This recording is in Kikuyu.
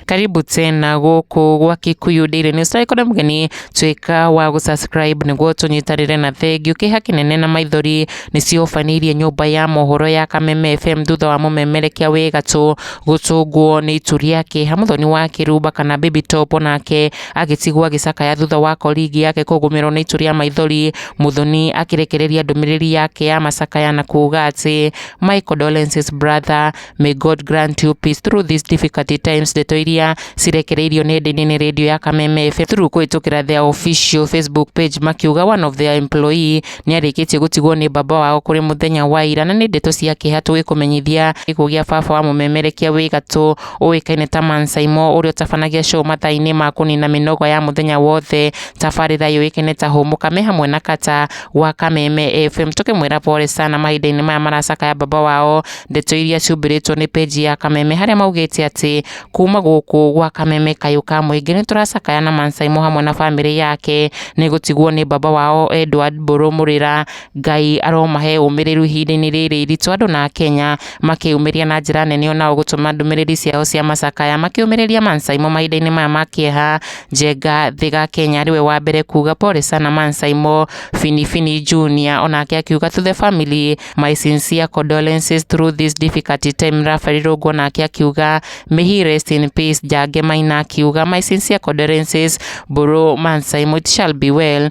karibu tena guku gwa Kikuyu Daily News na ikona mgeni twika wa gu subscribe niguo tunyitarire na thengiu kiha kinene na maithori nicio banirie nyumba ya mohoro ya Kameme FM thutha wa mumemerekia wi gatu gutunguo ni itu riake hamuthoni wa kiruba kana baby top nake agĩtigwo agĩcakaya thutha wa koringi yake kũgũmĩrwo nĩ itu rĩa maithori. Muthoni akĩrekereria ndũmĩrĩri yake ya macakaya na kuuga atĩ my condolences brother, may God grant you peace through these difficult times. Ndeto iria cirekereirio nenda-inĩ nĩ radio ya Kameme FM through kũhĩtũkĩra their official Facebook page makiuga one of their employee nĩ arĩkĩtie gũtigwo nĩ baba wao kũrĩ mũthenya wa ira na nĩ ndeto cia kĩeha tũgĩkũmenyithia gĩkuũ gĩa baba wa mũmemerekia wĩ gatũ ũĩkaine ta Man Saimo ũrĩa ũtabanagia show mathaa-inĩ ma kũnina mĩnoga ya mũthenya wothe. Tabarĩra yũĩkaine ta Hũmũka me hamwe na Kata wa Kameme FM tũkĩmwĩra pole sana mahinda-inĩ maya maracakaya baba wao ndeto iria ciumbĩrĩtwo nĩ peji ya Kameme harĩa maugĩte atĩ kuma gũkũ gwa Kameme kayũ ka mũingĩ nĩ tũracakaya na Man Saimo hamwe na bamĩrĩ yake nĩ gũtigwo nĩ baba wao Edward Mbũrũ Mũrĩra Ngai aromahe ũmĩrĩru ihinda-inĩ rĩrĩ iritũ andũ na Akenya makĩyumĩria na njĩra nene ona gũtũma ndũmĩrĩri ciao cia macakaya makĩũmĩrĩria Man Saimo mahinda-inĩ maya ma kĩeha. Njenga Thĩga Kenya arĩ we wa mbere kuuga pole sana Man Saimo. Fini Fini Junior onake akiuga to the family my sincere condolences through this difficult time. Raphael Irũngũ onake akiuga may he rest in peace. Njage Maina akiuga my sincere condolences bro Man Saimo it shall be well.